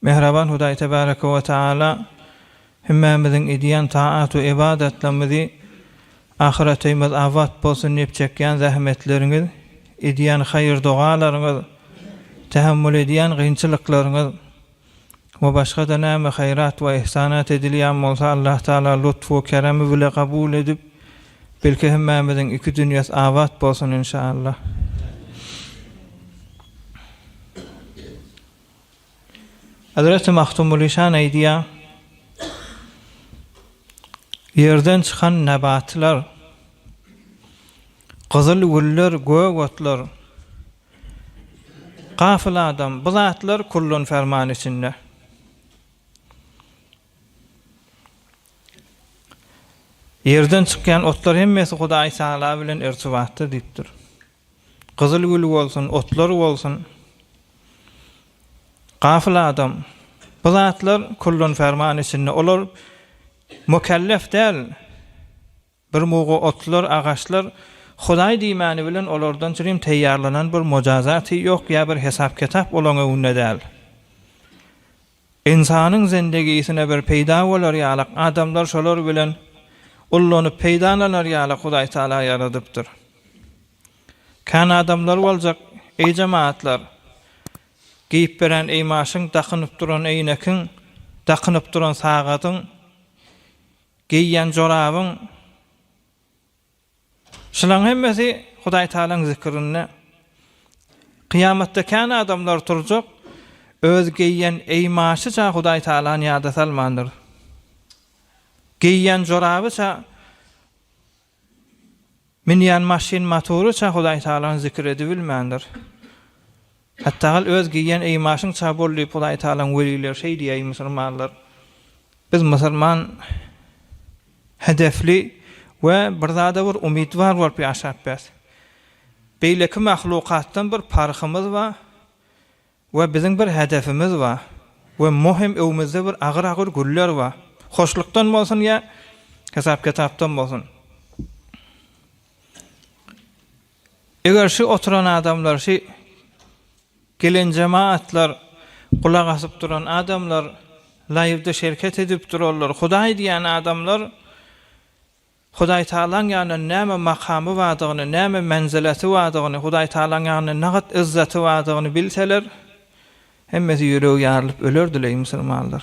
Mähriban Hudaý Tebareke we Taala hümmämiziň edýän taat we ybadatlarymyzy Ahyrataýymyz abat bolsun diýip çekýän zähmetleriňiz, edýän haýyr-dogalaryňyz, tähemmül edýän gynçylyklaryňyz we başga-da näme haýrat we yhsanat edilýän bolsa Allah Taala lutf we keremi bile kabul edip belki hümmämiziň iki dünýäs abat bolsun inşallah. Hazreti Magtymguly şan aýdýar, Ýerden çykan nebatlar, gyzyl güller, gök otlar, gafyl adam, bu zatlar kullun ferman içinde. Ýerden çykýan otlar hemmesi Hudaýtagala bilen irtibatda diýipdir. Gyzyl gül bolsun, otlar bolsun. Gafyl adam. Bu zatlar kullun ferman içinde. Olar mukellef däl. Bir mugu otlar, agaçlar Hudaý diýmäni bilen olardan çirim teýýarlanan bir mujazaty ýok ýa bir hesap-kitap olaň öňünde däl. Ynsanyň zendegisine bir peýda bolar ýalyk adamlar şolar bilen ullanyp peýdalanar ýalyk Hudaý Taala ýaradypdyr. Kän adamlar boljak, eý jemaatlar, geýip beren eýmaşyň, dakynyp duran eýnekiň, dakynyp duran sagadyň, geýýän jorabyň, Şularyň hemmesi Hudaý Tagalaň zikrinde. Kyýamatda kän adamlar turjak, öz geýýän eýmaşyça Hudaý Tagalany ýada salmandyr. Geýýän jorabyça, münýän maşyn-motoryça Hudaý Tagalany zikir edibilmändir. Hatdagal öz geýýän eýmaşyň ça bol diýip Hudaýtagalaň welileri şeý diýäý musurmanlar biz musurman hedefli we bir zada bir umytwar bolup ýaşap bes beýleki mahlukatdan bir parhymyz ba we biziň bir hedefimiz ba we muhim öwmüzde bir agyr agyr güller ba hoşlukdan bolsun ýa hesap kitapdan bolsun. Eger şi oturan adamlar şi gelen jemaatlar gulak asyp duran adamlar laýwda şerket edip duranlar hudaý diýen adamlar hudaý taalaň ýanynda näme makamy bardygyny näme menzileti bardygyny hudaý taalaň ýanynda nagat yzzaty bardygyny bilseler hemmesi ýüregi ýarylyp ölerdileý musulmanlar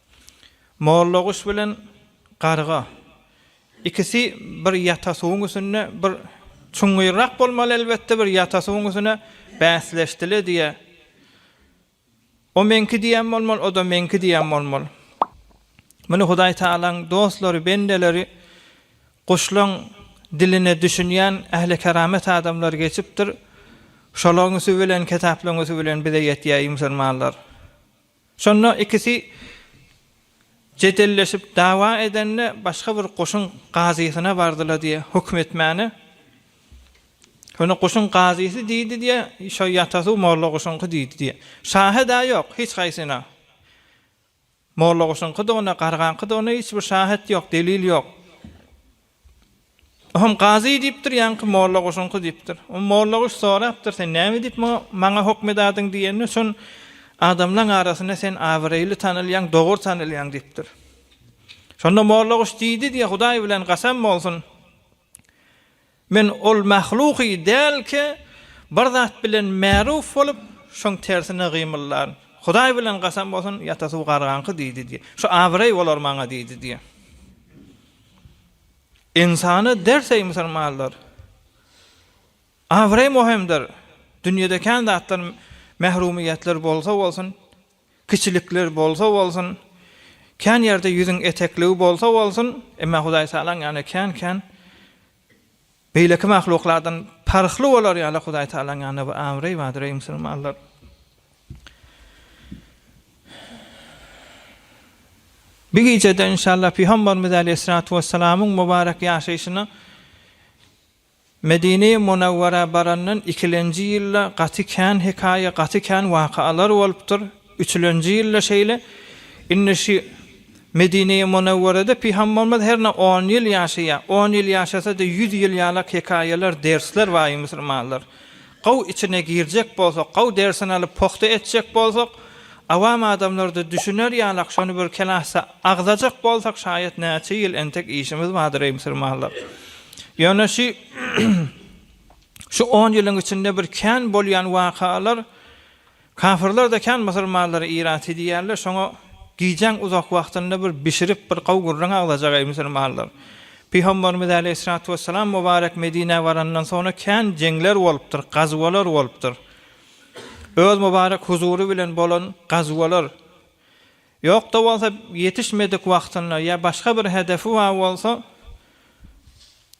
Mollaguş bilen garga, ikisi bir ýata suwuň üstünde, bir çuňňyrrak bolmaly elbetde, bir ýata suwuň üstüne bäsleşdile diýýä. O meňki diýen bolmaly, o-da meňki diýen bolmaly. Muny Hudaý Tagalaň dostlary, bendeleri, guşlaň diline düşünýän ählikeramat adamlar geçipdir. Şolaňysy bilen, kitaplaňysy bilen bize ýetýär, eý musulmanlar! Şonda ikisi jedelleşip dawa edende başga bir goşuň gazysyna bardylar diýe höküm etmäne. Şonda goşuň gazysy diýdi diýe şo ýatasu molla goşuňky diýdi diýe. Şahed-ä ýok hiç haýsyna. Molla goşuňky-da onda gargaňky-da onda hiç bir şahet ýok delil ýok. Oňam gazy diýipdir, ýaňky molla goşuňky diýipdir. Oňa molla goş sorapdyr, Sen näme diýip muňa maňa hokm edadyň diýende, şon Adamlaň arasynda sen abyreýli tanalýaň, dogry tanalýaň diýipdir. Şonda molla goş diýdi diýe, Hudaý bilen gasam bolsun, men ol mahluky dälki, bir zat bilen märuf bolup, şoň tersine gymyllaryn. Hudaý bilen gasam bolsun, ýata suw gargaňky diýdi diýe. Şu abyreý bolar maňa diýdi diýe. Ynsana ders eý musulmanlar! Abraý muhymdyr. Dünýede kän zatlar mährumyýetler bolsa bolsun, kiçilikler bolsa bolsun, kän ýerde ýüzüň etekligi bolsa bolsun, emma Hudaýtagalaň ýanyna kän-kän Beýleki mahluklardan parhly bolar ýaly Hudaý Tagalaň ýanynda bir abraý bardyr, eý musulmanlar! Bu gijede inşallah Pygamberimiz aleýhissalatu wessalamyň mubarek ýaşaýşyna Medinä Munawwara barandan ikilenji ýylda gaty kän hekaýa, gaty kän wakalar bolupdyr. Üçülenji ýylda şeýle. Indi şu Medine-i Munewwerede Pyham bolmaz hernä on ýyl ýaşaýa, on ýyl ýaşasa-da ýüz ýyl ýalak hekaýalar, dersler baý musulmanlar. Gowy içine girjek bolsak, gowy dersini alyp pogta etjek bolsak, awam adamlarda düşüner ýalak şony bir kelahsa agzajak bolsak şaýat näçe ýyl entek işimiz bardyr eý musulmanlar. Ýöne şu şu on ýylyň içinde bir kän bolýan wakalar, Kafyrlar-da kän musulmanlary irat edýärler, şoňa gijäň uzak wagtynda bir bişirip, bir gowy gürrüň aglajak, eý, musulmanlar! Pygamberimiz äleýhissalatu wessalam mubarek Medinä barandan soňra kän jeňler bolupdyr, gazwalar bolupdyr. Öz mubarek huzury bilen bolan gazwalar, ýok-da bolsa ýetişmedik wagtynda ýa başga bir hedefi bar bolsa,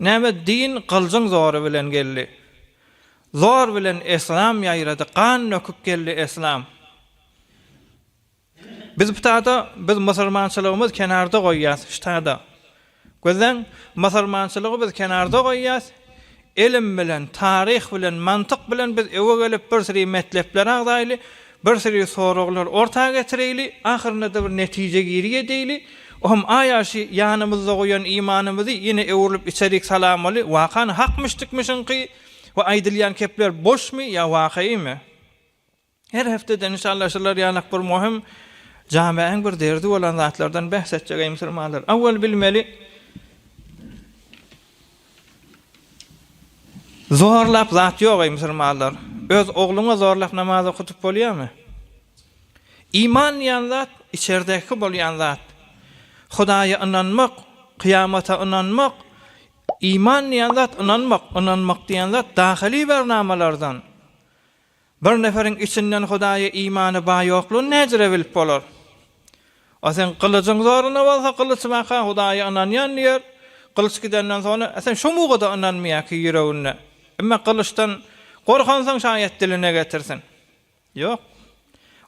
Näme din gyljyň zory bilen geldi. Zor bilen eslam ýaýrady gan döküp geldi eslam. Biz ptada biz musurmançylygymyz kenarda goýýas ştada. Gözleň musurmançylygy biz kenarda goýýas Ilim bilen, taryh bilen, mantyk bilen biz öe gelip bir siri metlepler agzaýly, bir siri soraglar orta getireýli, ahyrynda-da bir netije giri edeýli, ohm aýaşy ýanymyzda goýan imanymyzy ýene öwrülip içerik salamaly, wakan hakmyşdykmyşyňky we aýdylýan kepler boşmy ýa wakaýmy? Her hepdede nyşanlaşylar ýalak bir muhim jamäň bir derdi bolan zatlardan bäs etjek eý musulmanlar. Awwal bilmeli Zorlap zat ýok eý musulmanlar. Öz ogluňa zorlap namaz okadyp bolýamy? Iman diýen zat içerdeki bolýan zat. Hudaýa ynanmak, kyýamata ynanmak, iman diýen zat ynanmak, ynanmak diýen zat dahyly bernamalardan. Bir neferiň içinden Hudaýa imany bar ýoklugyny näjire bilip bolar? A seň gylyjyň zoruna bolsa, gylyç baka Hudaýa ynanýan diýer, gylyç gidenden soňra, a sen şu muga-da ynanmaýar ki ýüreginde. Emma gylyçdan gorkansoň şaýat diline getirsin. Ýok.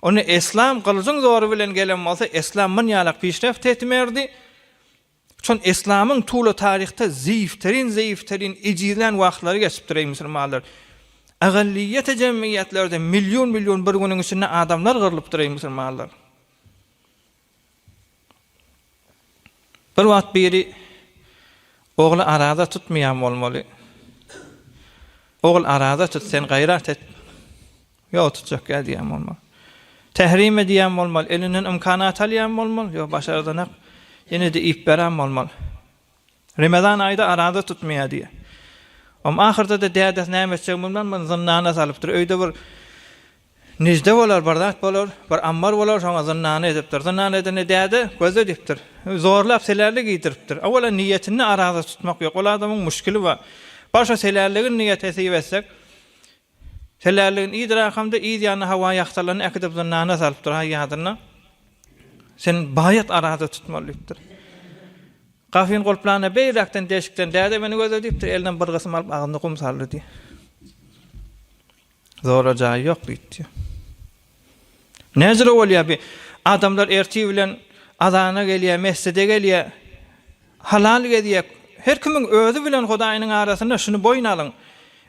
Ony eslam gylyjyň zory bilen gelen bolsa, eslam munýalak pişreft etmerdi. Şol eslamyň tuly taryhda zeýifterin zeýifterin ejizlän wagtlary geçipdir eý musulmanlar. Agallyýete jemgyýetlerde million million bir günüň içinde adamlar gyrlypdyr eý musulmanlar. Bir wagt biri ogly araza tutmaýan bolmaly. Ogul araza tut sen gaýrat et. Ýok, tutjak ýa diýýän bolmaly. Tährime diýýän bolmaly. Elinden ymkanat alýan bolmaly. Ýok, başardanak. Ýene-de iýip berän bolmaly. Remezan aýda araza tutmaýar diýýär. Om ahyrda-da dädesi näme etjegini bilmän muny zyndana salypdyr. Öýde bir nijde bolar, bir zat bolar, bir ammar bolar, şoňa zyndana edipdir. Zyndana edende däde gözle diýipdir. Zorlap selärlik iýdiripdir. Owwalan niýetinde araza tutmak ýok. Ol adamyň muşkili bar. Bar şo selärligiň niýet hesip etsek, Telläligin iýdir akamda yz ýanyna hawa ýagtalaryny äkidip zyndana salypdyr haý ýadyna sen baýat araza tutmaly diýipdir. Gafyny gulplanda beýläkden deşikden däde meni gözle diýipdir eline bir gysym alyp agzyna gum saldy diýýär. Zorla jaýy ýok diýdi diýýär. Näcirä bolýar bi adamlar ertir bilen azana gelýär, mesjide gelýär, halal gezýär. Her kimiň özi bilen Hudaýynyň arasynda şuny boýun alyň.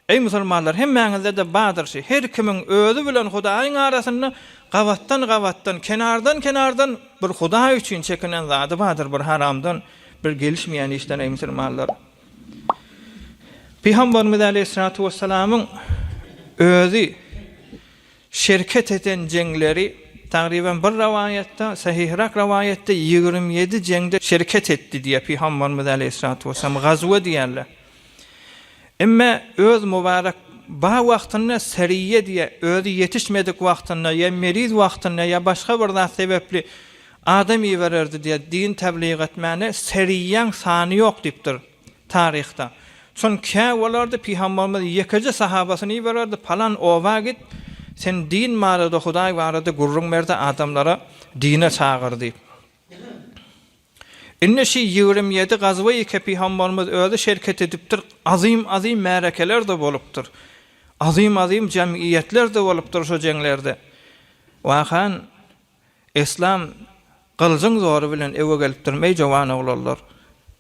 Eý musulmanlar, hemmäňizde-de bardyr şi, her kimiň özi bilen Hudaýyň arasynda gabatdan-gabatdan, kenardan-kenardan bir Hudaý üçin çekinen zady bardyr, bir haramdan, bir gelişmeýän işden, eý musulmanlar. Pygamberimiz aleýhissalatu wessalamyň özi Şerket eden jeňleri, tagryban bir rowaýatda, sahyhyrak rowaýatda ýigrimi ýedi jeňde şerket etdi diýýär Pygambarymyz aleýhissalatu wessalam, gazwe diýýärler. Emme öz mubarek bar wagtynda seryýe diýýär, özi ýetişmedik wagtynda ýa meriz wagtynda ýa başga bir zat sebepli adam ibererdi diýýär, din tebligatmane seryýäň sany ýok diýipdir. Taryhda. Şon kä bolardy, Pygambarymyz ýekeje sahabasyny ibererdi, Palan oba git, sen din barada, Hudaý barada gürrüň ber-de, adamlary dine çagyr diýip. Indi şi ýigrimi ýedi gazwei ke Pygambarymyz özi şerket edipdir, azym-azym märekeler-de bolupdyr. Azym-azym jemgyýetler-de bolupdyr şo jeňlerde. Wahan, Islam gylyjyň zory bilen ewe gelipdir, meý jowan oglanlar!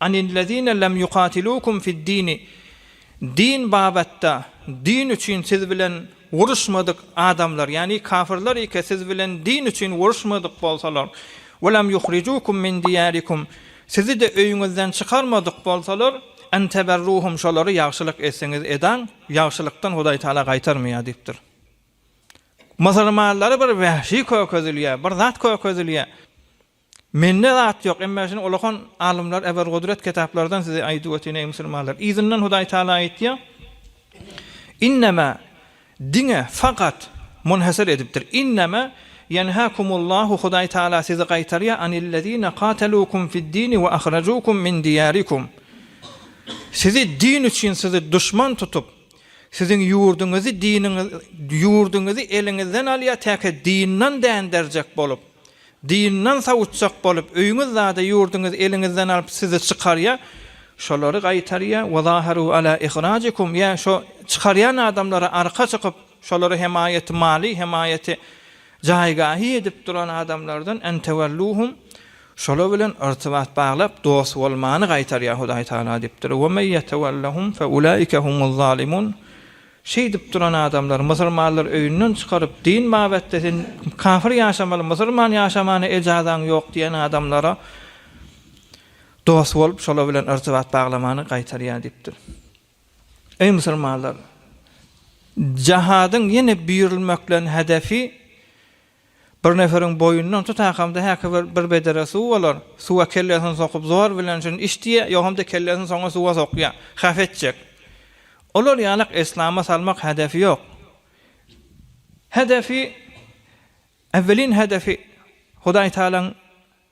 Anillezine lem yuqatilukum fiddini, Din babatda, din üçin siz bilen uruşmadyk adamlar, ýagny kafyrlar eke siz bilen din üçin uruşmadyk bolsalar, we lem yuhricukum min diýarikum, sizi-de öýüňizden çykarmadyk bolsalar, en teberruhum şolara ýagşylyk etseňiz edaň, ýagşylykdan Hudaý Taala gaýtarmaýar diýipdir. Musulmanlary bir wähşi kökezilýär, bir zat kökezilýär. Mende zat ýok, emma şuny ullakan alymlar Eber Gudret kitaplardan size aýdyp ötýän eý musulmanlar. Yzyndan Hudaý Tagala aýtýar, Innema, diňe, fakat, munhasir edipdir, innema ýenhakumullahu Hudaý Tagala sizi gaýtarýar anillezine katalukum fiddini we ahrajukum min diýarikum. Sizi din üçin sizi duşman tutup, siziň ýurduňyzy diniňiz ýurduňyzy eliňizden alýar täke dindan dänderjek bolup, Dyndan sawutjak bolup, öýüňiz zady ýurduňyz eliňizden alyp sizi çykarýar, şolary gaýtarýar, we zaharu ala ihrajikum, ýa şo çykarýan adamlara arka çykyp, şolara hemaýaty maly, hemaýaty jaýgahy edip duran adamlardan, en tewelluhum, şolar bilen yrtybat baglap, dost bolmany gaýtarýar Hudaý Tagala diýipdir, we men ýetewellahum fe ulaika humuz zalimun, Şeýdip duran adamlar musulmanlar öýünden çykaryp din babatda sen kafir ýaşamaly musulman ýaşamana ejazaň ýok diýen adamlara dost bolup şolar bilen yrtybat baglamany gaýtarýar diýipdir. Eý musulmanlar jahadyň ýene buyurylmaklerini hedefi Bir neferiň boýundan tutakamda häki bir bir bedere suw bolar, suwa kellesini sokup zor bilen şuny iç diýýär, ýogamda kellesini soňa suwa sokýar, hap etjek. Olar ýalak eslama salmak hedefi ýok. Hedefi, äwwelin hedefi Hudaýtagalaň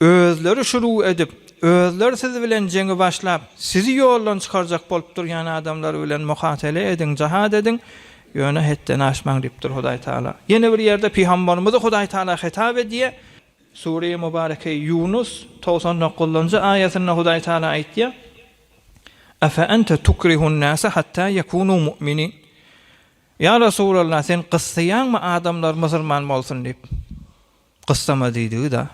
Özleri şuruw edip, özler siz bilen jeňi başlap, sizi ýoldan çykarjak bolup durýan adamlar bilen muhatele ediň, jahat ediň, ýöne hetden aşmaň diýipdir Hudaý Taala. Ýene bir ýerde pygambarymyzy Hudaý Taala hitap edýär. Sureýi Mubareke Ýunus togsan dokuzynjy aýatynda Hudaý Taala aýtýar, Afe ente tukrihun nase hatta ýekunu mu'minin. Ýa Resulallah, sen gyssaýaňmy adamlar musurman bolsun diýip? Gyssama diýdigi-da.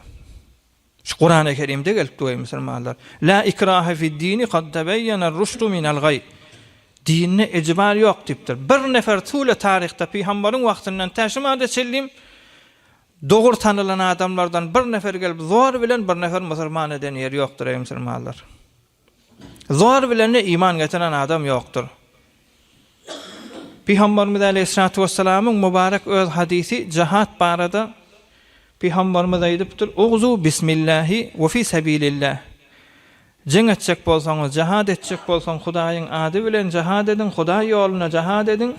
Şu Kurany Kerimde gelipdi we musulmanlar La ikrahe fid-dini kad tebeýener rüşdu minel gaý. Dinde ejbar ýok diýipdir. Bir nefer tüwle taryhda pygambaryň wagtyndan tä şu mada çenlim dogry tanylan adamlardan bir nefer gelip zor bilen bir nefer musulman eden ýeri ýokdur eý musulmanlar. Zor bilen-de iman getiren adam ýokdur. Pygamberimiz Aleýhissalatu wessalamyň mübarek öz hadysy jahat barada Pygamberimiz aýdypdyr, Ugzu bismillahi we fi sabilillah. Jeň etjek bolsaňyz, jahat etjek bolsaň Hudaýyň ady bilen jahat ediň, Hudaý ýolunda jahat ediň.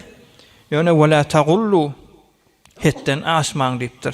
Ýöne we la tagullu, hetden aşmaň diýipdir.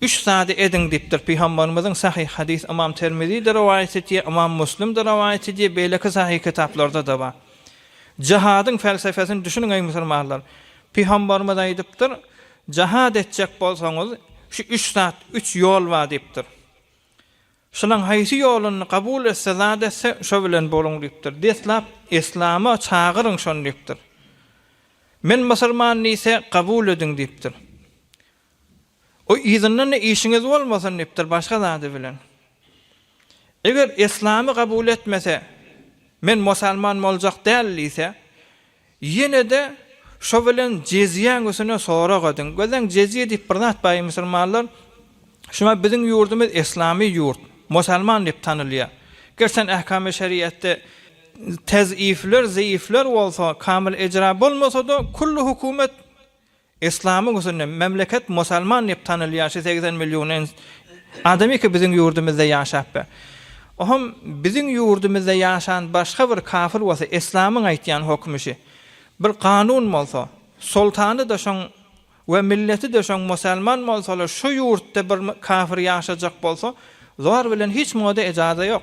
Üç zady ediň diýipdir Pygamberimiziň Sahyh hadys Ymam Termizi-de rowaýat etýär, Ymam Muslim-de rowaýat edýär, beýleki sahyh kitaplarda-da bar. Jahadyň felsefesini düşüniň eý musulmanlar! Pygamberimiz aýdypdyr, Jahad etjek bolsaňyz, şu üç zat, üç ýol bar diýipdir. Şulaň haýsy ýoluny kabul etse, zat etse, şo bilen boluň diýipdir. Deslap Islama çagyryň şony diýipdir. Men musulman diýse, kabul ediň diýipdir. O yzyndan-da işiňiz bolmasyn diýipdir, başga zady bilen. Eger eslamy kabul etmese, men mosalman boljak däl diýse, ýene-de şo bilen jezýäň üsüne sorag ediň. Gözleň, jezýe diýip bir zat bar, eý musulmanlar. Şuňa biziň ýurdumyz eslamy ýurt, mosalman diýip tanylýar. Ger sen ähkamy şeriatda tezifler, zeýifler bolsa, kamyl ejra bolmasa-da, külli hökümet Yslamyň üstünde memleket musalman diýip tanylýan şu segsen million ins adamy ki biziň ýurdumyzda ýaşap be. Oham biziň ýurdumyzda ýaşan başga bir kafyr bolsa yslamyň aýtýan hokmy şi. Bir kanun bolsa, soltany da şoň we milleti de şoň musalman bolsalar şu ýurtda bir kafyr ýaşajak bolsa zor bilen hiç moda ejaza ýok.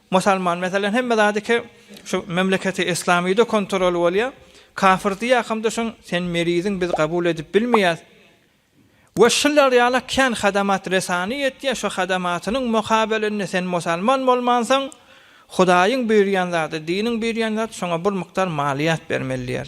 Musalman meselem hemme zady ki şu memleketi islamide kontrol bolýa kafir diýakamda şoň sen meriziň biz gabul edip bilmeýäs we şular ýala kän hadamat resany etýä şu hadamatynyň mokabelinde sen musalman bolmansoň hudaýyň buýurýan zady diniň buýurýan zady şoňa bir mukdar maliýat bermeli diýer.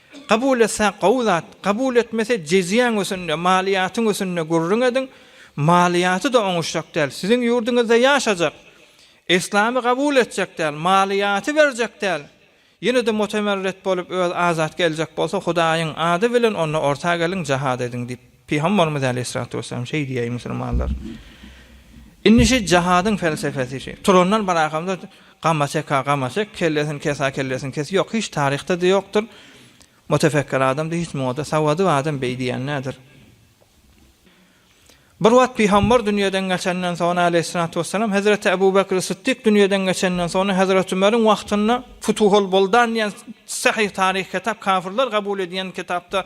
Kabul etse gowy zat, kabul etmese jeziýaň ösende, maliýatyň ösende gürrüň ediň, maliýaty-da oňuşjak däl, siziň ýurduňyzda ýaşajak, eslamy kabul etjek däl, maliýaty berjek däl, ýene-de mutemerret bolup öz azat geljek bolsa Hudaýyň ady bilen onda orta geliň jahad ediň diýip. Pygambarymyz aleýhissalatu wesselam şeý diýýär, Eý musulmanlar! Indi şu jahadyň pelsepesi şu. Turandan barakamda gama çeka gama çek, kellesini kesa kellesini kes. Ýok, hiç taryhda-da ýokdur. Mutefekkir adam-da hiç muňa-da sawady bar adam beý diýen däldir. Bir wagt pygambar dünýeden geçenden soň aleýhissalatu wesselam hezreti Ebu Bekri Sytdyk dünýeden geçenden soň hezreti Ömeriň wagtynda Futuhul Buldan diýen sähyh taryh kitap kafirler kabul edýän kitapda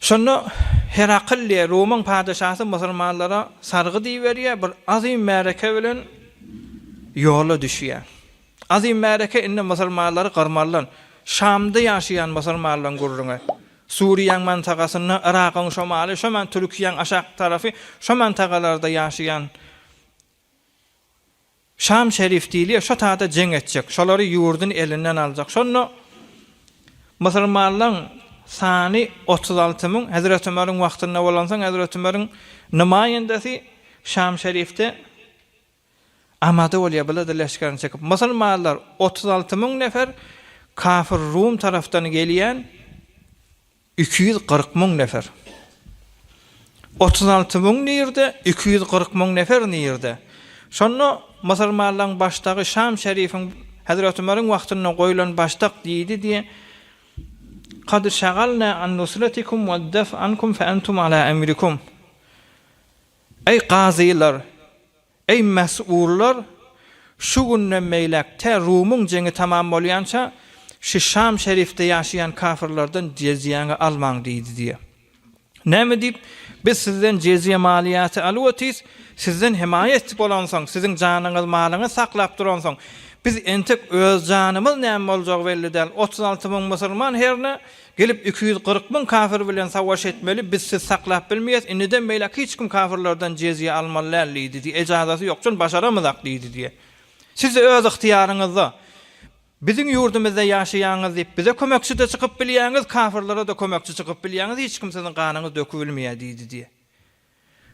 Şonda Herakliýe, Rumyň patyşasy musulmanlara sargy diýiberýär, bir azym märeke bilen ýola düşýär. Azym märeke indi musulmanlary gyrmalydan, Şamda ýaşaýan musulmanlaryň gürrüňi, Suriýaň mantagasynda, Yragyň şomaly, şoman Türkiýäň aşak tarapy, şo mantagalarda ýaşaýan Şam şerif diýilýär, şo tagda jeň etjek, şolary ýurduny elinden aljak. Şonda musulmanlaň sany otuz alty müň, Hezreti Ömeriň wagtynda bolansoň, Hezreti Ömeriň nymaýendesi Şam şerifde amada bolýar, bile-de leşgerini çekip. Musulmanlar otuz alty müň nefer, kafir Rum tarapdan gelýän, Iki ýüz kyrk müň nefer. Otuz alty müň nirde, iki ýüz kyrk müň nefer nirde? Şonda musulmanlaryň başdagy Şam şerifiň Hezreti Ömeriň wagtynda goýlan başdak diýdi diýe, Kad şagalna an nusratikum we def ankum fe entum ala emrikum. Eý, gazylar, Eý mäsuullar, şu günden beýläk tä Rumyň jeňi tamam bolýança, şu Şam şerifde ýaşaýan kafirlerden jeziýäňi almaň diýdi diýe. Näme diýip, biz sizden jeziýe maliýasy alyp otyrys, sizden hemaýa etdik bolansoň, siziň janyňyz, malyňyz saklap duransoň, biz entek öz janymyz näme boljagy belli däl, otuz alty müň musulman herne Gelip iki ýüz kyrk müň kafir bilen savaş etmeli biz siz saklap bilmeýäs indidem beýläk hiç kim kafirlerden jezýe almaly däl diýdi diýe ejazaty ýok jön başaramyzak diýdi diýe siz öz ygtyýaryňyzda biziň ýurdumyzda ýaşaýaňyz diýip bize kömekçide çykyp bilýäňiz kafirlere de kömekçi çykyp bilýäňiz hiç kim siziň ganyňyz dökübilmeýä diýdi diýe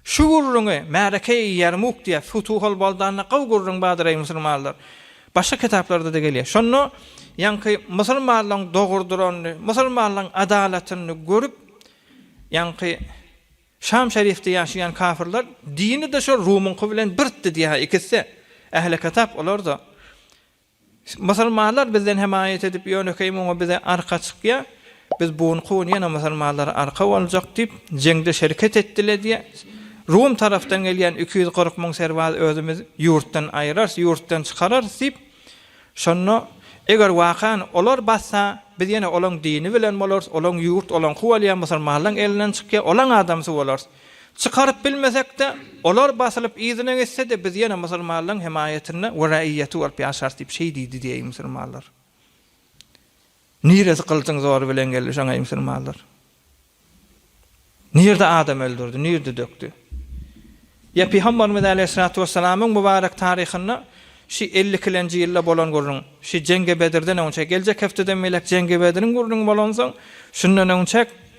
Şu gürrüňi Märeke-i Ýermuk diýýär. Futuhul Boldanda gowy gürrüň bardyr, eý, musulmanlar! Başga kitaplarda-da gelýär. Şonda ýaňky musulmanlaryň dogrudyryny, musulmanlaryň adalatyny görüp, ýaňky Şam şerifde ýaşaýan kafyrlar, Dini-de şol Rumuňky bilen birtdi diýýär-hä ikisi-de. Ähli kitap olarda. Musulmanlar bizden hemaýat edip, ýönekeý muňa bize arka çykýar. Biz bu gün, kowun ýene musulmanlara arka boljak diýip, jeňde şerket etdile diýýär. Rum tarapdan gelýän iki ýüz kyrk müň serbaz özümiz ýurtdan aýyrarys, ýurtdan çykararys diýip, şonda eger wakan olar bassa, biz ýene olaň dini bilen bolarys, olaň ýurt, olaňky bolýar, musulmanlaň elinden çykýar, olaň adamsy bolarys. Çykaryp bilmesek-de, olar basylyp yzyna geçse-de, biz ýene musulmanlaryň hemaýatynda we raýaty bolup ýaşarys diýip şeý diýdi diý, eý musulmanlar! Niresi gylyjyň zory bilen geldi şoň, eý musulmanlar? Nirede adam öldürdi, nirede dökdi? Ýa pygamberimiz aleýhissalatu wessalamyň mübarek taryhynda şi elli ikilenji ýylda bolan gürrüň, şi Jengi Bedirden öňçä, geljek hepdeden beýläk Jengi Bediriň gürrüňi bolansoň, şundan öňçäk,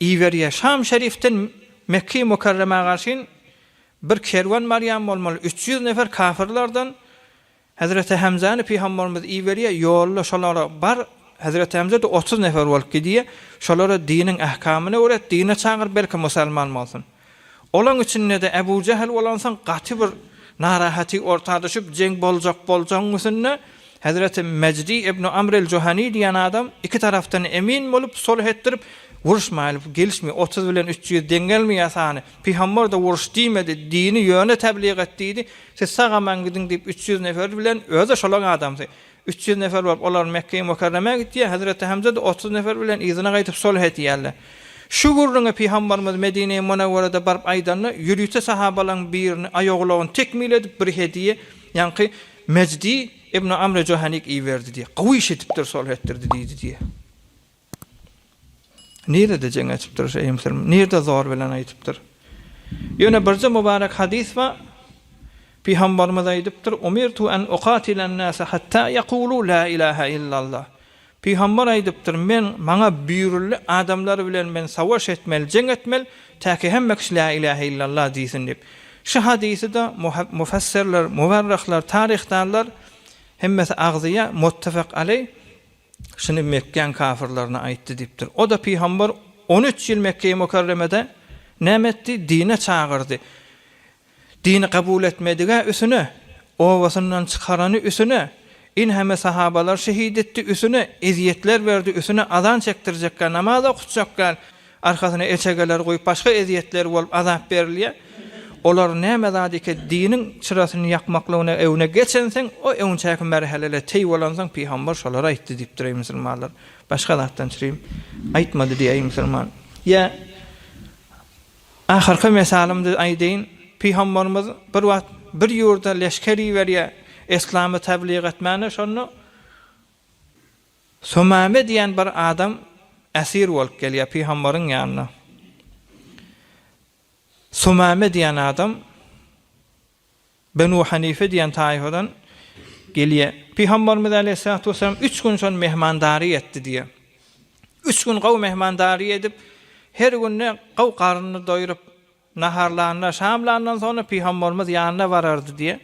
Iberýär. Şam Şerifden Mekge-i Mükerremä garşyn bir kerwen barýan bolmaly. Üç ýüz nefer kafyrlardan Hezreti Hemzäni Pygamberimiz iberýär. Ýolda şolara bar, Hezreti Hemze-de otuz nefer bolup gidýär. Şolara diniň ähkamyny öwret, dine çagyr, belki musalman bolsun. Olaň içinde-de Äbu Jähel bolansoň gaty bir narahaty orta düşüp, jeň boljak boljagyň üsünde Hezreti Mejdi ibnu Amr el-Juhany diýen adam iki tarapdan emin bolup, sulh etdirip, Uruşmaýlyp, gelişme, otuz bilen üç ýüz deň gelme ýasany, pygamber-de uruş diýmedi, dini ýöne tebligat diýdi, siz sag-aman gidiň diýip üç ýüz nefer bilen, özi-de şolaň adamsy, Üç ýüz nefer bolup, olar Mekgeýi Mukarremä gitýär, Hezreti Hemze-de otuz nefer bilen yzyna gaýdyp sulh edýärler. Şu gürrüňi Pygambarymyz Medine-i Munewwerede baryp aýdanda, ýörite sahabalaryň birini aýagulagyny tekmil edip bir hediýe, ýaňky Mejdi ibn Amr-i Johanik iberdi diýýär. Gawy iş edipdir, sulh etdirdi diýdi diýýär. Nirede jeň açypdyr şeý musulman? Nirede zor bilen aýdypdyr? Ýöne birje mubarek hadys bar. Pygambarymyz aýdypdyr, Umirtu an ukatilen nase hatta ýekulu la ilaha illallah. Pygambar aýdypdyr, men, maňa buýruldy, adamlar bilen men sawaş etmeli, jeň etmeli, täki hemme kişi la ilaha illallah diýsin diýip. Şu hadysy-da mufassirler, muwarryhlar, taryhdarlar hemmesi agzýar, muttefek aleý. Şuny Mekgäň kafyrlaryna aýtdy diýipdir. O-da pygamber on üç ýyl Mekge-i Mükerremede näme etdi? Dine çagyrdy. Dini kabul etmedige üsüne, obasyndan çykarany üsüne, inheme sahabalary şehit etdi üsüne, ezýetler berdi üsüne, azan çekdirjekkä, namaz okutjakkä, arkasyna elçegeler goýup başga ezýetler bolup azap berilýär, olar näme zat eke diniň çyrasyny ýakmaklygyna öwne geçenseň o öňçäki merhelele teý bolansoň pygambar şolary aýtdy diýipdir eý musulmanlar başga zatdan çyrym aýtmady diý eý musulman ýa ahyrky mesalymdy aýdaýyn pygambarymyz bir wagt bir ýurda leşker iberýär eslamy tabliýg etmäne şonda Sumame diýen bir adam esir bolup gelýär pygamberiň ýanyna. Sumame diýen adam Benu Hanife diýen taýfadan gelýär. Pygamberimiz aleýhissalatu wesselam üç gün şony mehmandary etdi diýär. Üç gün gowy mehmandary edip, her günde gowy garnyny doýrup, naharlanda, şamlandan soňra pygamberimiz ýanyna barardy diýär.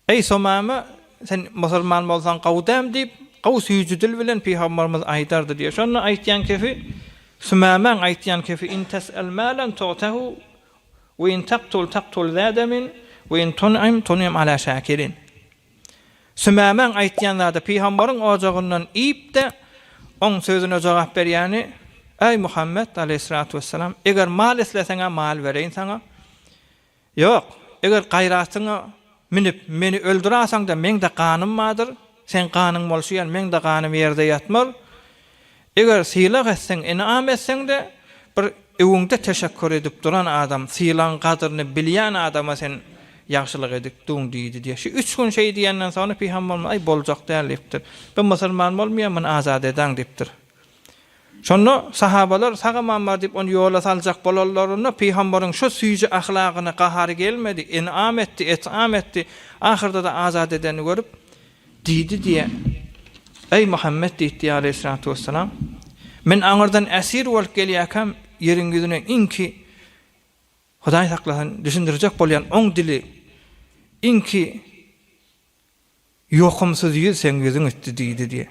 Eý, Somama, sen musulman bolsaň gowy däm diýip, gowy süýji dil bilen pygamberimiz aýdardy diýýär. Şonda aýtýan kefi, Sumamaň aýtýan kefi, In tes'el malan tu'tehu, we in taqtul taqtul za demin, we in tun'im tun'im ala şakirin. Sumamaň aýtýan zady, pygamberiň ojagyndan iýip-de, oň sözüne jogap berýäni, Eý, Muhammet, aleýhissalatu wessalam, eger mal isleseň-ä mal bereýin saňa, Ýok, eger gaýratyňa münüp, meni öldürasaň-da, meň-de ganym bardyr, seň ganyň bolşy ýaly, meň-de ganym ýerde ýatmaz. Eger sylag etseň, ynam etseň-de, bir öňüňde teşekgür edip duran adam, sylagyň gadyryny bilýän adama sen ýagşylyk edipdiň, diýdi diýýär. Şu üç gün şeý diýenden soňra Pygamberimiz, Aý, boljak däl, diýipdir. Bu musulman bolmaýar, muny azat edäň, diýipdir. Şonda sahabalar sagamambar diýip ony ýola saljak bolanlarynda, pygambaryň şu süýji ahlagyna gahary gelmedi, enam etdi, et'am etdi, ahyrda-da azat edenini görüp, diýdi diýe, Eý Muhammet diýdi aleýhissalatu wessalam, Men aňyrdan esir bolup gelýäkäm, ýeriň ýüzüne iňki, Hudaý saklasyn, düşündirjek bolýan oň dili, iňki Ýokumsyz ýüz seň ýüzüň etdi diýdi diýýär.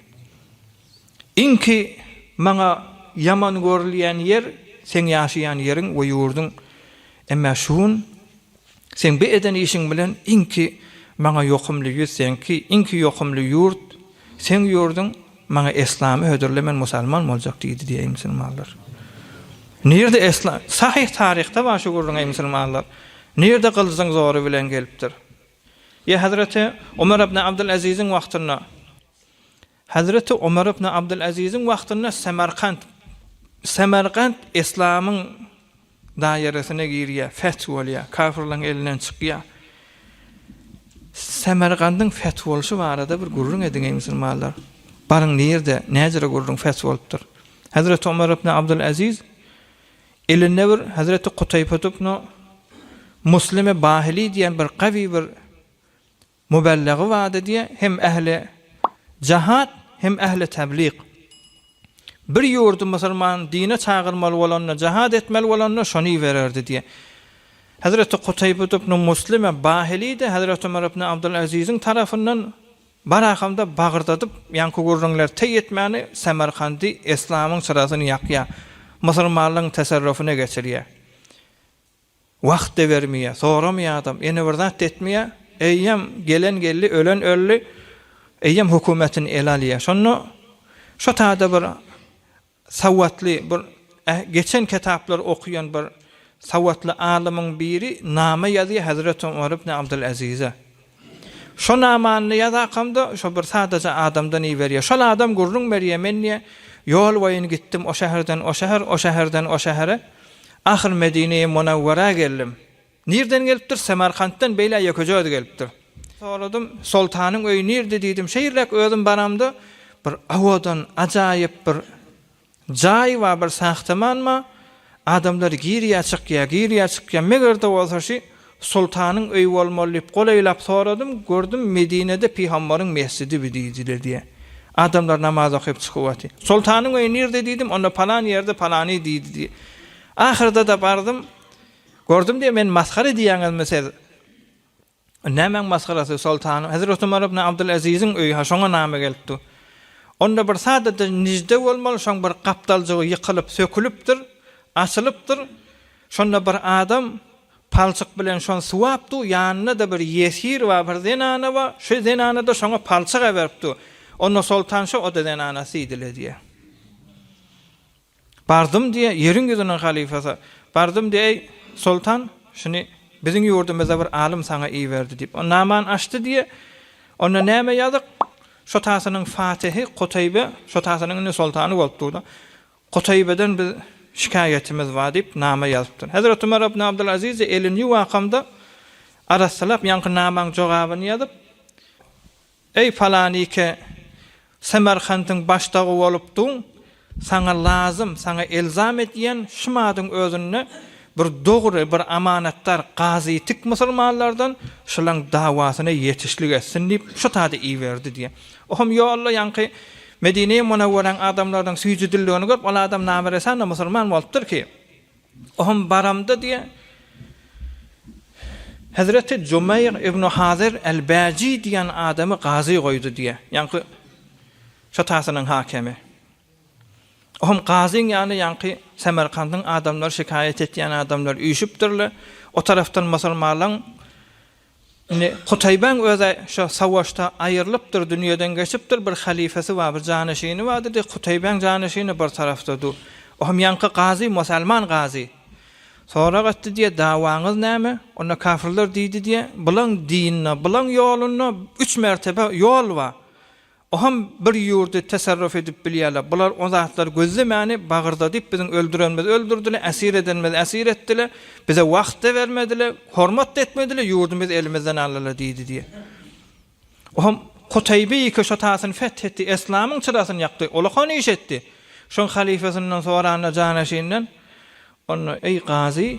Iňki maňa ýaman görülýän ýer seň ýaşaýan ýeriň we ýurduň. Emmä şu gün seň bu eden işiň bilen iňki maňa ýokumly ýüz seňki, iňki ýokumly ýurt seň ýurduň, maňa eslamy hödürle men musalman boljak diýdi diýýär. Eý musulmanlar! Nirde eslam? Sahyh taryhda bar şu gürrüň eý musulmanlar! Nirde gylyjyň zory bilen gelipdir? Ýa hezreti Omar ibn Abdyl Aziziň wagtynda Hezreti Omar ibn Abdyl Aziziň wagtynda Samarkant Samargant Islamyň daýeresine girýär, feth bolýar, kafirleň elinden çykýar. Samargandyň feth bolşy barada bir gürrüň ediň eý musulmanlar. Baryň nirde, näjere gürrüň feth bolupdyr. Hezreti Omar ibn Abdyl Aziz Elennewir Hazreti Kutaýpatybnu Muslime Bahili diýen bir gawy bir mubelligy bardy diýe hem ähli jahat hem ähli tebliq. Bir ýurdy musulman dine çagyrmaly bolanda jahat etmeli bolanda şony ibererdi diýe. Hazreti Kutaýpatybnu Muslime Bahili-de Hazreti Ömer ibn Abdul Aziziň tarapyndan Barahamda bagyrdadyp, ýaňky gürrüňler teý etmäni Samarkandy eslamyň çyrasyny ýakýar, musulmanlygyň tesarrufyna geçirýär. Wagt-da bermeýär, soramaýar adam, ýene bir zat-da etmeýär. Eýýäm gelen geldi, ölen öldi. Eýýäm hökümetini ele alýar. Şonda şo taýda bir Sowatly bir geçen ketaplary okyan bir sowatly alymyň biri nama ýazýar Hazret Omar ibn Abdul Azize. Şo namany ýazakamda şo bir sadaja adamdan iberýär. Şol adam gürrüň berýär men diýär ýol boýun gitdim o şäherden o şäher o şäherden o şähere ahyr Medine-i Munawwara geldim. Nirden gelipdir? Samarkantdan beýle ýekejöz gelipdir. Soradym, Soltanyň öýi nirde diýdim. Şeýrräk özüm baramda, bir owadan, ajaýyp bir jaý bar, bir sahtamanma, adamlar girýär, çykýar, girýär, çykýar. Meger-de bolsa şi Soltanyň öýi bolmaly diýip, golaýlap soradym, gördüm, Medinede Pygambaryň mesjidi bi diýdiler diýýär. Adamlar namaz okyp çykyp otyr. Soltanyň öýi nirde diýdim, onda palan ýerde, palany diýdi diýýär. Ahyrda-da bardym. Gördüm diýe meni masgara edýäňizmi siz? Nämäň masgarasy, soltanym? Hezret Umar ibn Abdylaziziň öýi-hä şoňa name gelipdi. Onda bir sada-da nijde bolmaly, şoň bir gapdaljygy ýykylyp, sökülipdir, açylypdyr. Şonda bir adam palçyk bilen şony suwapdy, ýanynda-da bir ýesir bar, bir zenana bar, şu zenana-da şoňa palçyk äberipdi. Onda soltan şo, o-da zenana, Sidile diýýär. Bardym diýe, ýeriň ýüzüniň halyfasy, bardym diýe, Eý, soltan, şuny biziň ýurdumyzda bir alym saňa iberdi diýip, o namany açdy diýe, onda näme ýazyk, şotasynyň fatyhy Kutaýbe, şotasynyň indi soltany bolup dur-da, Kutaýbeden biz şikaýatymyz bar diýip, nama ýazypdyr. Hezreti Umar ibn Abdylaziz-de elini ýuwakamda arassalap, ýaňky namaň jogabyny ýazyp, Eý, falanike, Semerkandyň başdagy bolupdyň, saňa lazym, saňa elzam edýän şum adyň özünde bir dogry, bir amanatdar gazy tik musulmanlardan şulaň dawasyna ýetişlik etsin diýip, şut ady iberdi diýýär. Ohm ýolda ýaňky Medine-i Munawweräň adamlarynyň süýjüdiligini görüp, ol adam name resän-de musulman bolupdyr ki, Ohm baramda diýýär, Hezreti Jumeýr ibnu Hazer el-Bäji diýen adamy gazy goýdy diýýär, ýaňky şatasynyň hakemi. Ohm gazyň ýany ýaňky Semerkandyň adamlary şikaýat etýän adamlar üýşüpdirler, o tarapdan musulmanlaň Indi Kutaýbaň öz-ä şo sawaşda aýrylypdyr, dünýeden geçipdir, bir halyfasy bar, bir janyşyny bar diýdi, Kutaýbaň janyşyny bir tarapda dur, o hem ýaňky gazy, musalman gazy. Sorag etdi diýe, dawaňyz näme? Onda kafirler diýdi diýe, bulaň dininde, bulaň ýolunda üç mertebe ýol bar. Oham bir ýurdy tesarruf edip bilýärler. Bular o zatlary gözlemäni bagyrdadyp biziň öldürenimizi öldürdiler, äsir edenimizi äsir etdiler, bize wagt-da bermediler, hormat-da etmediler, ýurdumyz elimizden aldylar diýdi diýýär. Oham Kutaýby iki şatasyny feth etdi, eslamyň çyrasyny ýakdy. Ol okan iş etdi. Şoň halyfasyndan soranda janaşynydan onda, Eý gazy,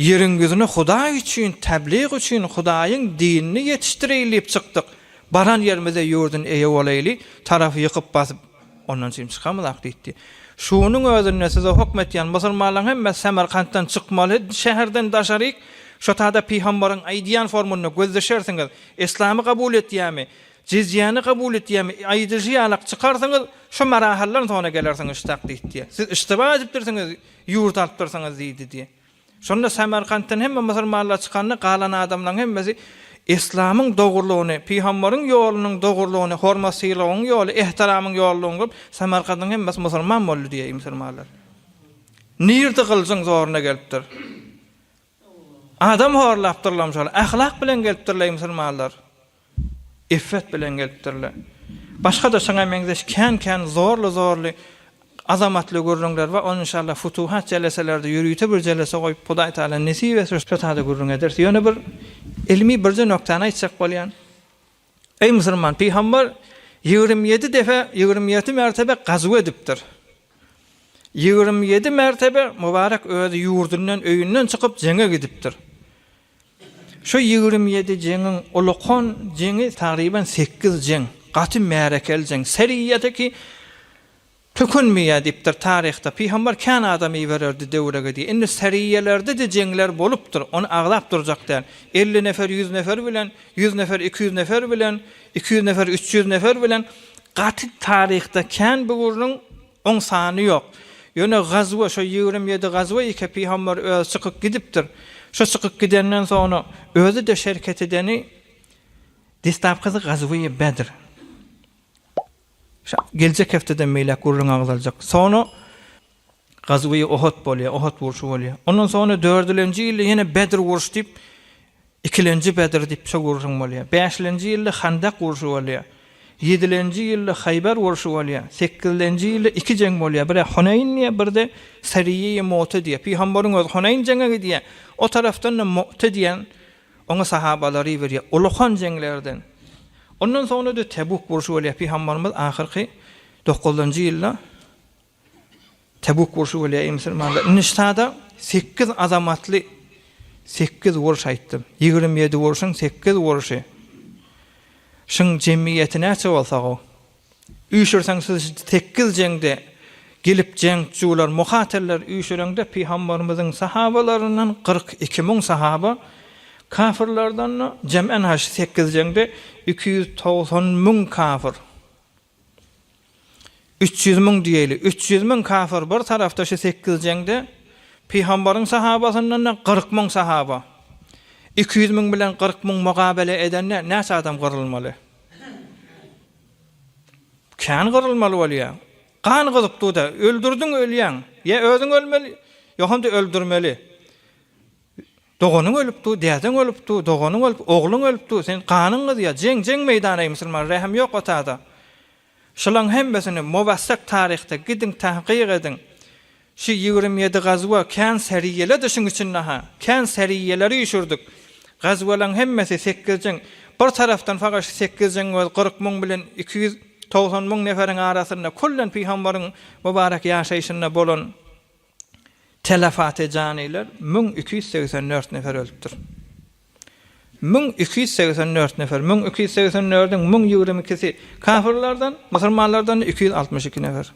Ýeriň ýüzüne Hudaý üçin, teblig üçin, Hudaýyň dinini ýetişdireýin diýip çykdyk. Baran ýerimizde ýurdun eýe bolaýly, tarapy ýykyp-basyp, ondan çyn çykamyzak diýdi. Şunuň özünde size hukm etýän musulmanlaryň hemmesi Samarkantdan çykmaly, şäherden daşaryk şo tada pygambaryň aýdýan formunda göz düşersiňiz. Yslamy kabul etýärmi? Jizyýany kabul etýämi? Aýdyjy ýalak çykarsyňyz, şo marahaldan soňra gelersiňiz ştakdyýdi, diýýär. Siz yştyba edipdirsiňiz, ýurt alypdyrsyňyz, diýdi, diýýär. Şonda Samarkantdan hemme musulmanlar çykanda, galan adamlaryň hemmesi Yslamyň dogrulygyny, Pygambaryň ýolunyň dogrulygyny, hormat-sylagyň ýoly, ehtiramyň ýoludygyny görüp, Samarkandyň hemmesi musulman boldy, diýýär musulmanlar. Nirde gylyjyň zoruna gelipdir. Adam horlapdyrlarymy şol, ahlak bilen gelipdirler musulmanlar. Iffet bilen gelipdirler. Başga-da şoňa meňzeş kän-kän zorly-zorly azamatly gürrüňler bar. Ony inşallah futuhat jeleselerde ýörite bir jelese goýup Hudaý Taala nesip etse şo taýda gürrüň ederis. Ýöne bir ylmy birje nokdany aýtjak bolýan. Eý musulman pygambar ýigrimi ýedi defe ýigrimi ýedi mertebe gazuw edipdir. Ýigrimi ýedi mertebe Mubarek özi ýurdundan öýünden çykyp jeňe gidipdir. Şu ýigrimi ýedi jeňiň uly-kon jeňi tagryban sekiz jeň, gaty märekel jeň, seriýada ki tökünmeýär diýipdir taryhda pygambar kän adam ibererdi döwrege diýe. Indi seriýalerde de jeňler bolupdyr, ony aglap durjak däl. Elli nefer ýüz nefer bilen, ýüz nefer iki ýüz nefer bilen, iki ýüz nefer üç ýüz nefer bilen gaty taryhda kän böwrüniň Oň sany ýok. Ýöne gazwa, şo ýigrimi ýedi gazwa ýeke pygamber özi çykyp gidipdir. Şo çykyp gidenden soňra özi-de şereket edeni destapkasy gazwyýi Bedr. Şa geljek hepdeden beýläk gürrüň agzaljak. Soňra gazwyýi Uhud bolýar, Uhud urşy bolýar. Ondan soňra dördülenji ýylda ýene Bedr urşy diýip, Ikilenji Bedr diýip şo gurşun bolýar. Bäşlenji ýylda Handak urşy bolýar. Ýedilenji ýylda Haýber urşy bolýar. Sekizlenji ýylda iki jeň bolýar. Biri Huneýn diýýär, biri-de Seriyýeýi Mu'te diýýär. Pygambaryň özi Huneýn jeňe gidýär. O tarapdan-da Mu'te diýen oňa sahabalary iberýär. Ulukan jeňlerden. Ondan soňra-da Tebuk urşy bolýar. Pygambarymyz ahyrky dokuzynjy ýylda Tebuk urşy bolýar, eý musulmanlar! Indi şu sada sekiz azamatly sekiz urş aýtdym. Ýigrimi ýedi urşuň sekiz urşy. Şuň jemgyýeti näçe bolsa-gow? Üýşürseň siz sekiz jeňde gelip jeňçjular, mukaterler üýşüreňde Pygamberimiziň sahabalaryndan kyrk iki müň sahaba, kafirlerden-de jemän-ha şu sekiz jeňde iki ýüz togsan müň kafir. Üç ýüz müň diýeli. Üç ýüz müň kafir bir tarapda şu sekiz jeňde Pygamberiň sahabasyndan-da kyrk müň sahaba. Iki ýüz müň bilen kyrk müň mugabele edende näçe adam gyrylmaly? Kän gyrylmaly bolýar. Gan gyzyklyda, öldürdiň ölýäň. Ýa özüň ölmeli, ýogsam-da öldürmeli. Doganyň ölüpdu, dädeň ölüpdu, doganyň ölüp, ogluň ölüpdi, sen ganyň gyzýa, jeň, jeň meýdana eý musulman, rähm ýok otada. Şulaň hemmesini mowassak taryhda gidiň tahkyk ediň. Şu ýigrimi ýedi gazwa kän säriýeledi şuň içinde ha, kän säriýeleri üşürdik. Gazwalaň hemmesi sekiz jeň, bir tarapdan fakat şu sekiz jeň öz kyrk müň bilen iki ýüz togsan müň neferiň arasynda kullen pygambaryň mubarek ýaşaýşynda bolan Telepatiýa janylar müň iki ýüz segsen dört nefer ölüpdir. Müň iki ýüz segsen dört nefer, müň iki ýüz segsen dördiň müň ýigrimi ikisi kafirlerden, musulmanlardan iki ýüz altmyş iki nefer.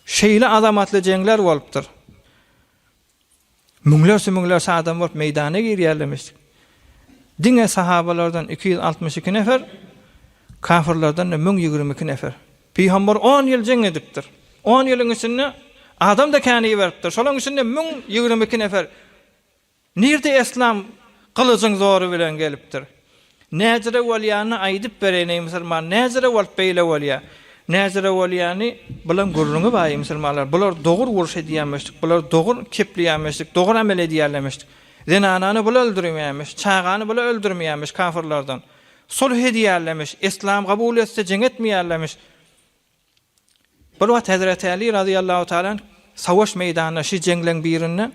Şeýle azamatly jeňler bolupdyr. Müňlerçe müňlerçe adam bolup meýdana girýärlemiş. Diňe sahabalardan iki ýüz altmyş iki nefer, kafirlerden-de müň ýigrimi iki nefer. Pygamber on ýyl jeň edipdir. On ýylyň içinde adam-da kän iberipdir. Şolaryň içinde müň ýigrimi iki nefer nirde eslam gylyjyň zory bilen gelipdir. Näjire bolýanyny aýdyp bereýin, eý, musulman, näjire bolup beýle bolýa? Näjire bolýany bilen gürrüňi bar, eý, musulmanlar, bular dogur uruş edýämişdik, bular dogur kepleýämişdik, dogur amel edýärlemişdik. Zenanany bula öldürmeýämiş, çagany bula öldürmeýämiş kafyrlardan. Sulh edýärlemiş, yslam kabul etse jeň etmeýärlemiş. Bir wagt Hezreti Aly razyýallahu taala anh savaş meýdanyna şi jeňleň birinde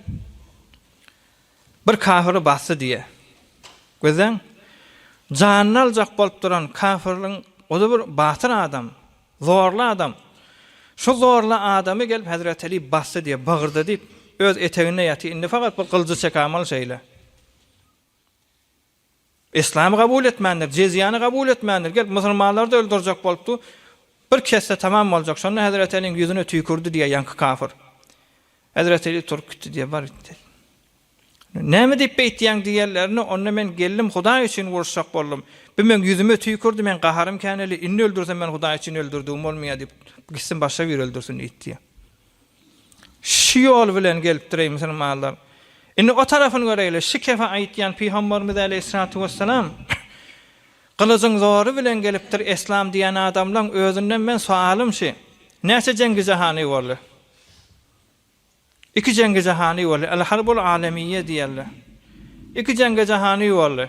bir kafiri basdy diýýär. Gözleň, janyny aljak bolup duran kafirliň ozi bir batyr adam, zorly adam. Şu zorly adamy gelip Hezreti Aly basdy diýip bagyrdy diýip, öz eteginde ýatyr, indi fakat bir gylyjy çekämaly şeýle. Yslamy kabul etmändir, jezyýany kabul etmändir, gelip musulmanlary-da öldürjek bolupdy, bir kesse tamam boljak, şonda Hezreti Äliň ýüzüne tüýkürdi diýýär ýaňky kafir. Hezreti Äli turup gitdi diýýär, bar git diýýär. Näme diýip beýtýäň diýenlerine, onda men geldim, Hudaý üçin uruşjak boldum. Bu meň ýüzüme tüýkürdi, meň gaharym käneli, indi öldürsem men Hudaý üçin öldürdigim bolmaýar diýip, gitsin başga biri öldürsin diýdi diýýär. Şu ýol bilen gelipdireý musulmanlar. Indi o tarapyny göreýli. Şu kefe aýytýan Pygamberimiz äleyhissalatu wessalam gylyjyň zory bilen gelipdir eslam diýen adamlaň özünden men soalym şi, näçe jengi jahany boldy? Iki jengi jahany boldy. El harbul alemiýýe diýerler. Iki jengi jahany boldy.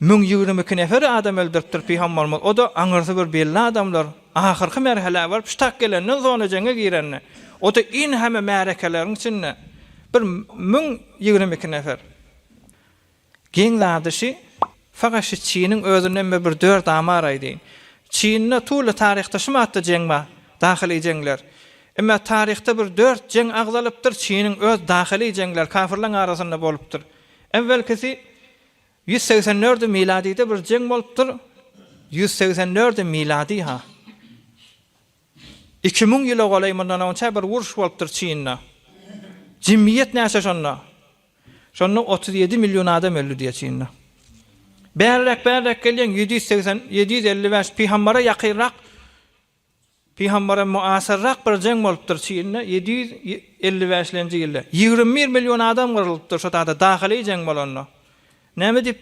Müň ýigrimi iki nefer adam öldüripdir pygambarymyz o-da aňyrsy bir belli adamlar ahyrky merhelä baryp ştak gelenden zona jeňe girende o-da in heme märekeleriň içinde bir müň ýigrimi iki nefer geň zady şi fakat şi çiniň özünden bir bir dört amar aýdyn çinda tuly taryhda şi matda jeň bar dahyly jeňler ime taryhda bir dört jeň agzalypdyr çiniň öz dahyly jeňler kafyrlaň arasynda bolupdyr Äwwelkisi ýüz segsen dördi miladide bir jeň bolupdyr, ýüz segsen dördi miladi-ha, iki müň ýyla golaý mundan onça bir uruş bolupdyr Çynda. Jemgyýet näçe şonda? Şonda otuz ýedi million adam öldi diýýär Çynda. Bärräk-bärräk gelýäň, ýedi ýüz segsen, ýedi ýüz elli bäş, pygambara ýakynrak Pygambara muasyrrak bir jeň bolupdyr Çinde ýedi ýüz elli bäş lenji ýylda ýigrimi bir million adam gyrlypdyr şo taýda dahyly jeň bolanda näme diýip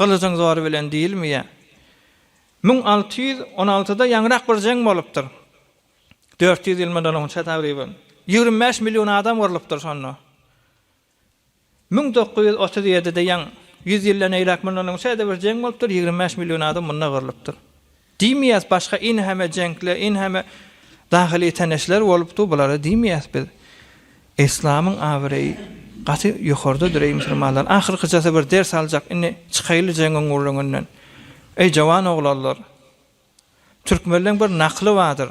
gylyjyň zory bilen diýilmeýä müň alty ýüz on altyda ýaňyrak bir jeň bolupdyr dört ýüz ýyl mundan onça tagryban ýigrimi bäş million adam gyrlypdyr şonda Müň dokuz ýüz otuz ýedide ýaň, ýüz ýyldan eýläk mundan öň täze bir jeň bolupdyr, ýigrimi bäş million adam munda gyrlypdyr. Diýmeýäs, başga inheme jeňkler, inheme dahyly täneşler bolupdyr, bulary diýmeýäs biz. Yslamyň abraýy gaty ýokardadyr, eý musulmanlar! Ahyrkyjasy bir ders aljak, indi çykaýly jeňiň gürrüňinden. Eý jowan oglanlar! Türkmenleň bir nakly bardyr.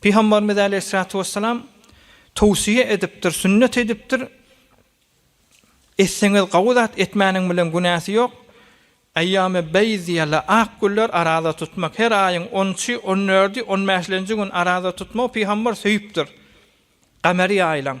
Pygambarymyz aleýhissalatu wessalam towsyýe edipdir, sünnet edipdir, Etseňiz gawy zat, etmäniň bilen günäsi ýok. Eýýamy beýz diýýärler, ak günler araza tutmak. Her aýyň on üçi, on dördi, on bäşlenji gün araza tutmagy pygambar söýüpdir. Kameri aýlaň.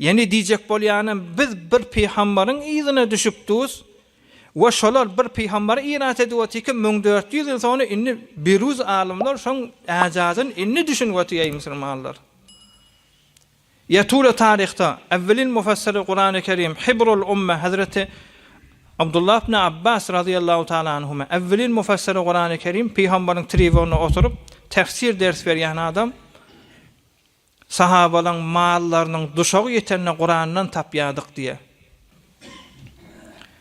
Ýene diýjek bolýanym, biz bir pygambaryň yzyna düşüpdüs we şolar bir pygambary irat edip otyrka müň dört ýüz ýyl soňra indi biruz alymlar şoň äjazyn indi düşünip otyr eý musulmanlar. Ýa tule taryhda Awwelin mufassiri Kurany Kerim Hibrul Umme Hazreti Abdullah ibn Abbas razyýallahu taala anhuma Awwelin mufassiri Kurany Kerim pygambaryň tribunyna oturyp tefsir ders berýän adam Sahabalaň mallarynyň duşagy ýetende Kurandan tapýardyk diýýär.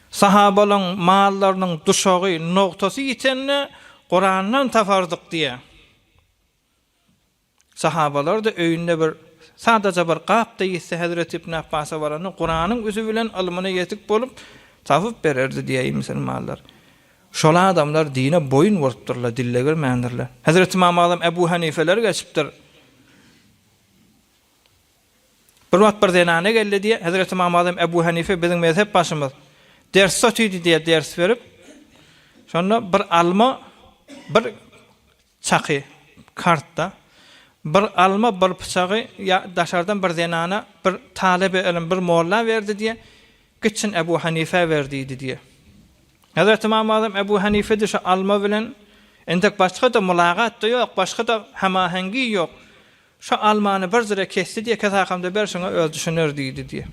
Sahabalaň mallarynyň duşagy, nogtasy ýitende Kurandan tapardyk diýýär. Sahabalar-da öýünde bir sadaja bir gapda ýitse Hezreti Ibn Abbasa baranda Kuranyň üzi bilen ylmyna ýetik bolup tapyp bererdi diýýär musulmanlar. Şol adamlar dine boýun bolupdyrlar, dille girmändirler. Hezreti Ymam Azam Ebu Hanifeler geçipdir. Bir wagt bir zenana geldi diýýär, Hezreti Ymam Azam Ebu Hanife biziň mezhep başymyz. Dersde otyrdy diýýär, ders berip. Şonda bir alma bir Çaky, kartda, Bir alma, bir pyçagy ýa daşardan bir zenana, bir talebe ylym, bir molla berdi diýe, gitsin Ebu Hanifä ber diýdi diýe. Hezreti Ymam Azam Ebu Hanifede şu alma bilen entek başga-da mylagat-da ýok, başga-da hemahengi ýok. Şu almany bir zire kesdi diýe, kes hakamda ber şuňa öz düşüner diýdi diýe.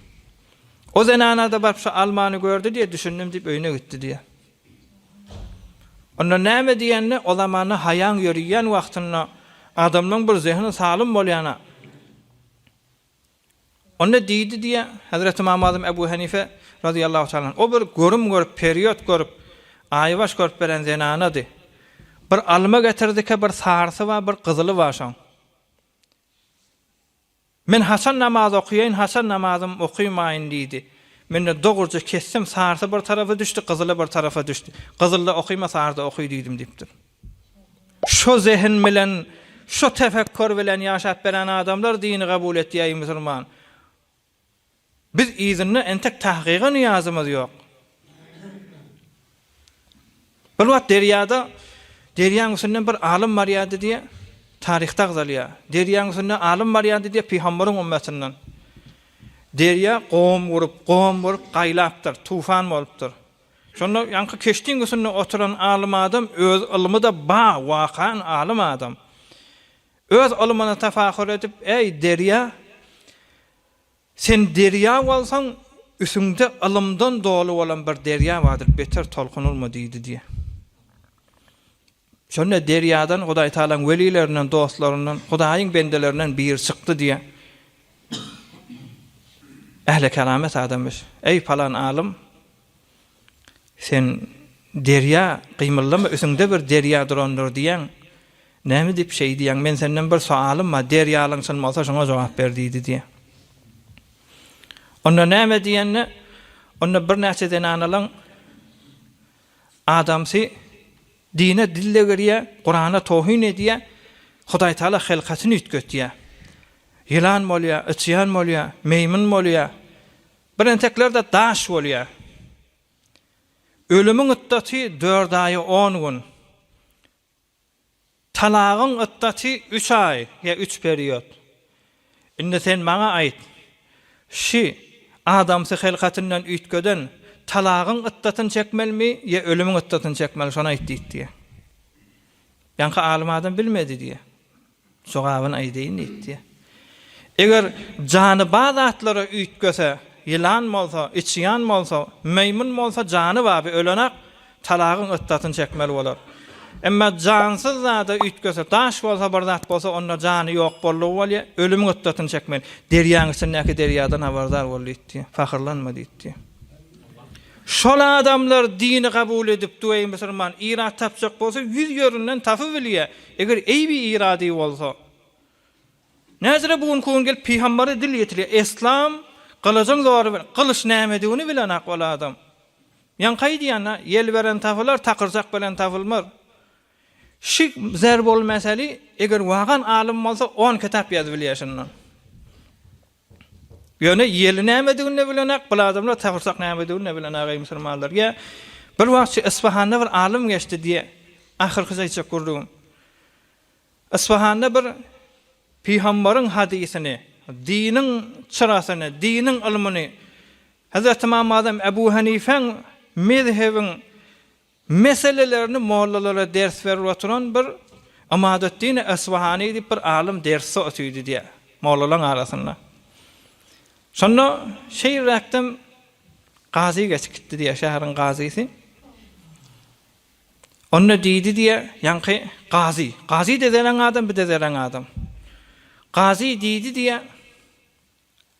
O zenana-da baryp şu almany gördi diýe, düşündim diýip öýüne gitdi diýe. Onda näme diýende, o zamanda haýaň ýöriýän wagtynda adamlaň bir zehini salym bolýana. Onda diýdi diýýär, Hezreti Ymam Azym Ebu Henife razyýallahu taala anh, o bir görüm görüp, periýot görüp, aýbaş görüp beren zenanady. Bir alma getirdike, bir sarsy bar, bir gyzyly bar şoň. Men haçan namaz okaýaýyn, haçan namazym okaýmaýyn diýdi. Men-de dogruja kesdim, sarsy bir tarapa düşdi, gyzyly bir tarapa düşdi. Gyzylda okaýma, sarda okaý diýdim diýipdir. Şo zehin bilen, şo tefekkür bilen ýaşap beren adamlar dini kabul etýäý musulman. Biz yzynda entek tahgyga nyýazymyz ýok. Bir wagt derýada, derýaň üstünden bir alym barýardy diýe, taryhda agzalýar. Derýaň üstünde alym barýardy diýe pygambaryň ümmetininden. Derýa gom gurup, gom gurup gaýlapdyr, tufan bolupdyr. Şonda ýaňky keşdiň üstünde oturan alym adam öz ylmyda ba, wakan alym adam. Öz ylmyna tafakur edip, Äý, derýa, Sen derýa bolsaň, üsüňde ylymdan doly bolan bir derýa bardyr, beter tolkun urma diýdi diýýär. Şonda derýadan Hudaýtagalaň welilerinden, dostlaryndan, Hudaýyň bendelerinden biri çykdy diýýär. Ähli keramet adamyş. Eý, palan alym! Sen derýa, gymyldama, üsiňde bir derýa durandyr diýýäň. Näme diýip şeý diýýäň? Men senden bir soalym bar, derýalygyň çyn bolsa, şoňa jogap ber diýdi diýýär. Onda näme diýende, onda birnäçe zenanalaň adamsy dine dille girýär, Kurana towhyn edýär, Hudaý Taala hylkatyny üýtgetýär. Ýylan bolýar, yçýan bolýar, meýmyn bolýar. Bir entekler-de daş bolýar. Ölümiň yddaty dört aý on gün. Talagyň yddaty üç aý ýa üç period. Indi sen maňa aýt, şi adamsy hylkatyndan üýtgeden talagyň yddatyny çekmelimi ýa ölümiň yddatyny çekmeli, şony aýt diýipdi. Ýaňky alym adam bilmedi diýýär. Jogabyny aýdaýyn diýipdi. Eger jany ba zatlara üýtgese, ýylan bolsa, içýan bolsa, meýmun bolsa jany baby ölenak talagyň ötdasyny çekmeli bolar. Emma jansyz zada üýtgese, daş bolsa, bir zat bolsa onda jany ýok boldugy bolýa, ölümiň ötdasyny çekmeli. Derýaň içindäki derýadan habardar bol diýipdi. Pahyrlanma diýipdi. Şol adamlar dini gabul edip düweý musurman, ilat tapjak bolsa ýüz ýerinden tapybilýä. Eger eýbi ýyrady bolsa näzire bu günki gün gelip pygambere dil ýetirýär eslam gylyjyň zory bilen gylyç nämedigini bilenok ol adam ýaňky aýdýan a ýel beren tapylar takyrjak bilen tapylmaz şi zerb ol meseli eger wagan alym bolsa on kitap ýazyp bilýär şundan Ýöne ýeli nämedigini-de bilenok, bul adamlar sagyrsak nämedigini-de bilenok, eý, musulmanlar! Ýa, bir wagt şu Isfahanda bir alym geçdi diýe, ahyrkysy aýtjak gürrügim. Isfahanda bir pygamberiň hadysyny, diniň çyrasyny, diniň ylmyny, Hezreti Imam Azam Ebu Hanifäň mezhebiň Meselelerini mollalara ders berip oturan bir Ymadeddini Esbahany diýip bir alym dersde otyrdy diýär, mollalaryň arasynda. Şonda şeýrräkden gazy geçip gitdi diýär, şäheriň gazysy. Onda diýdi diýär, ýaňky gazy, gazy-de zerän adam, bu-da zerän adam. Gazy diýdi diýär.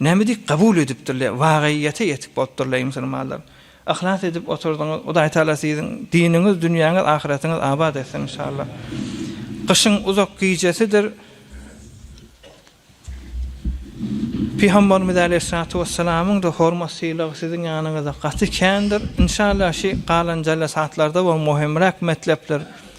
Näme diýip kabul edipdirler, wagyýete ýetik bolupdyr leý musulmanlar. Yhlas edip oturdyňyz, Hudaý Taala siziň diniňiz, dünýäňiz, ahyratyňyz abat etsin inşallah. Gyşyň uzak gijesidir. Pygamberimiz aleýhissalatu wessalamyň da hormat sylagy siziň ýanyňyzda gaty kändir. Inşallah şi galan jellesatlarda we möhümräk metlepler